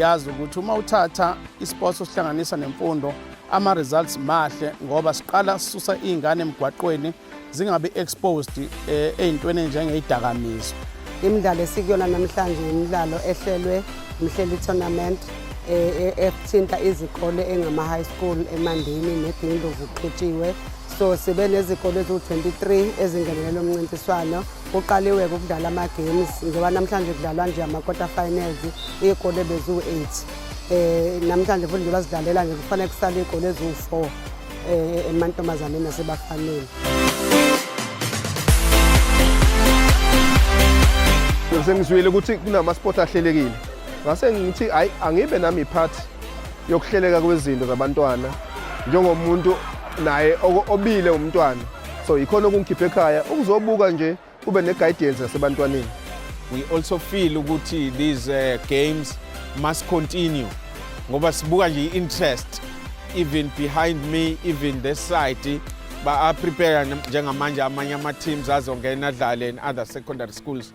siyazi ukuthi uma uthatha isports osihlanganisa nemfundo ama-results mahle ngoba siqala sisusa iy'ngane emgwaqweni zingabi exposed eh, ey'ntweni enjengeyidakamizwa imidlalo esikuyona namhlanje imidlalo ehlelwe mhleli tournament eh, eh, ethinta izikole engama-high school emandini negindlovu kuqhutshiwe so sibe nezikole eziwu-23 ezingenelele umncintiswano kuqaliwe-ke ukudlala ama-games njengoba namhlanje kudlalwa nje ama-quarter finals iy'kole beziwu-8 um eh, namhlanje futhi njengoba zidlalela nje kufanele kusale iy'kole eziwu-4 eh, emantombazaneni nasebafaneni sengizwile ukuthi kunama-sport ahlelekile ngase ngithi hayi angibe nami part yokuhleleka kwezinto zabantwana njengomuntu naye obile umntwana so yikhona okungikhipha ekhaya ukuzobuka nje ube ne-guidance yasebantwaneni we also feel ukuthi these uh, games must continue ngoba sibuka nje i-interest even behind me even this side ba-prepare njengamanje amanye ama-teams azongena adlale in other secondary schools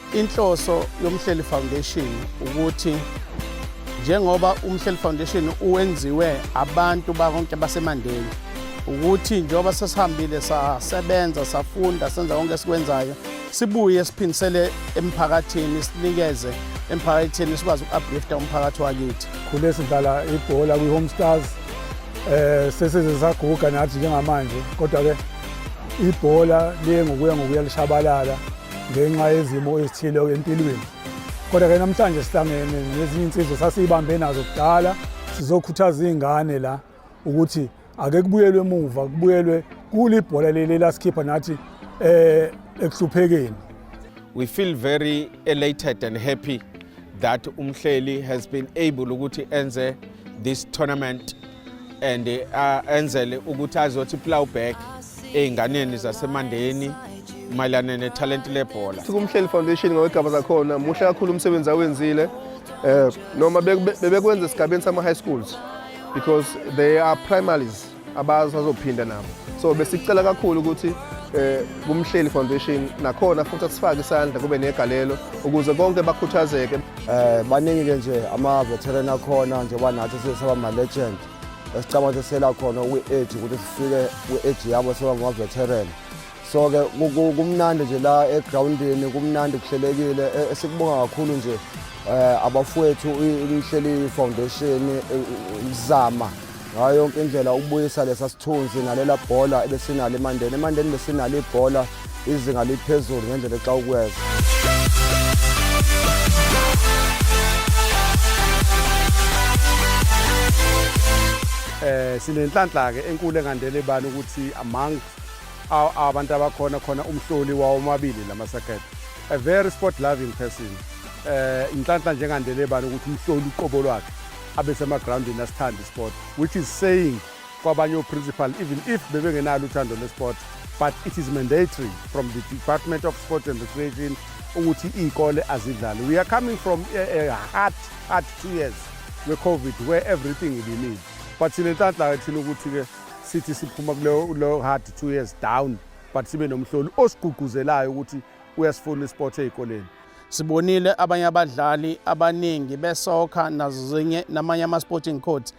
Inhloso yoMhleli Foundation ukuthi njengoba uMhleli Foundation uwenziwe abantu bakonke baseMandeni ukuthi njengoba sesihambile sasebenza safunda senza konke esikwenzayo sibuye siphindisele emphakathini sinikeze emphakathini sikwazi uku-uplifta umphakathi wakithi khule sidlala ibhola kwi-home stars um sesize saguga nathi njengamanje kodwa-ke ibhola liye ngokuya ngokuya lishabalala ngenxa yezimo ezithile empilweni kodwa ke namhlanje sihlangene nezinye insizwa sasiyibambe nazo kudala sizokhuthaza iy'ngane la ukuthi ake kubuyelwe emuva kubuyelwe kule ibhola leli lasikhipha nathi eh ekuhluphekeni we feel very elated and happy that umhleli has been able ukuthi enze this tournament and uh, enzele ukuthi azothi plow back ezinganeni zasemandeni mayelana nethalente lebhola sikumhleli foundation ngawegaba zakhona muhle kakhulu umsebenzi awenzile um noma bebekwenza esigabeni sama-high schools because they are primaries abasazophinda nabo so besicela kakhulu ukuthi eh kumhleli foundation nakhona futhi asifake isandla kube negalelo ukuze konke bakhuthazeke Eh baningi ke nje ama veteran akhona njengoba nathi sesaba ma legend. Esicabanga ukuthi sela khona kwi age ukuthi sifike kwi age yabo seba ma veteran. So ke kumnandi nje la e groundini kumnandi kuhlelekile e, esikubonga kakhulu nje eh abafowethu inhleli foundation e, izama ngayo yonke indlela ukubuyisa lesa sithunzi nalela bhola ebesinalo emandeni emandeni besinalo ibhola izinga liphezulu ngendlela exa ukweza eh sinenhlanhla ke enkulu engandele bani ukuthi among abantu abakhona khona umhloli wawo omabili lamasakhethi a very sport loving person eh inhlanhla njengandele bani ukuthi umhloli uqobo lwakhe abesemagroundini asithanda isport which is saying kwabanye oprincipal even if bebengenalo uthando lesport but it is mandatory from the department of sport and recreation ukuthi iy'kole azidlali we are coming from a, a hard hard two years we-covid where everything ibimile but thina enhlanhla thina ukuthi-ke sithi siphuma kuleyo hard two years down but sibe nomhloli osigqugquzelayo ukuthi uyasifuna isport ey'koleni Sibonile abanye abadlali abaningi besoccer nazo zinye namanye ama-sporting codes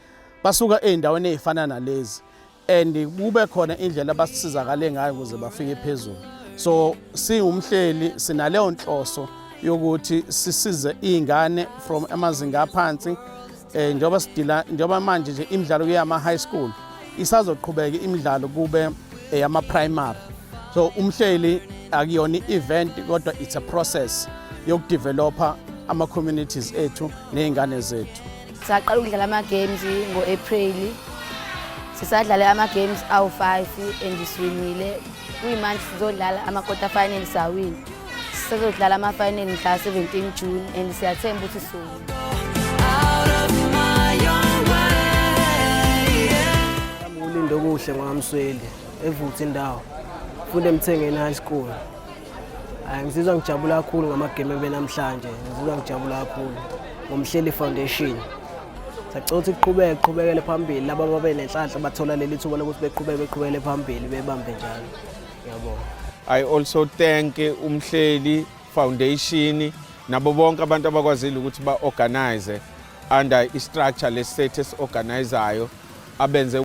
basuka ey'ndaweni ey'fana nalezi and kube khona indlela abasizakale ngayo ukuze bafike phezulu so siwumhleli sinaleyo nhloso yokuthi sisize iy'ngane from amazinga aphansi Eh njoba sidila njoba manje nje imidlalo kuyama high school isazoqhubeka imidlalo kube eyama eh, primary. So umhleli akuyona i-event kodwa it's a process yokudevelopa ama-communities ethu ney'ngane zethu saqala ukudlala ama-games ngo-april sisadlale ama-games awu-five and siwinile kuyimanje sizodlala ama-quarter final sawini Sizodlala ama-final mhla 17 June and siyathemba ukuthi sizoyina. Ulinde okuhle ngokamsweli evutha indawo funde emthengeni high school hayi ngizizwa ngijabula kakhulu ngamagame ebe namhlanje ngizizwa ngijabula kakhulu ngomhleli foundation sacela ukuthi kuqhubeke kuqhubekele phambili laba babe nenhlanhla bathola leli thuba lokuthi beqhubeke beqhubekele phambili bebambe njalo Yabo. I also thank umhleli foundation nabo bonke abantu abakwazile ukuthi ba organize under i structure le status organizayo abenze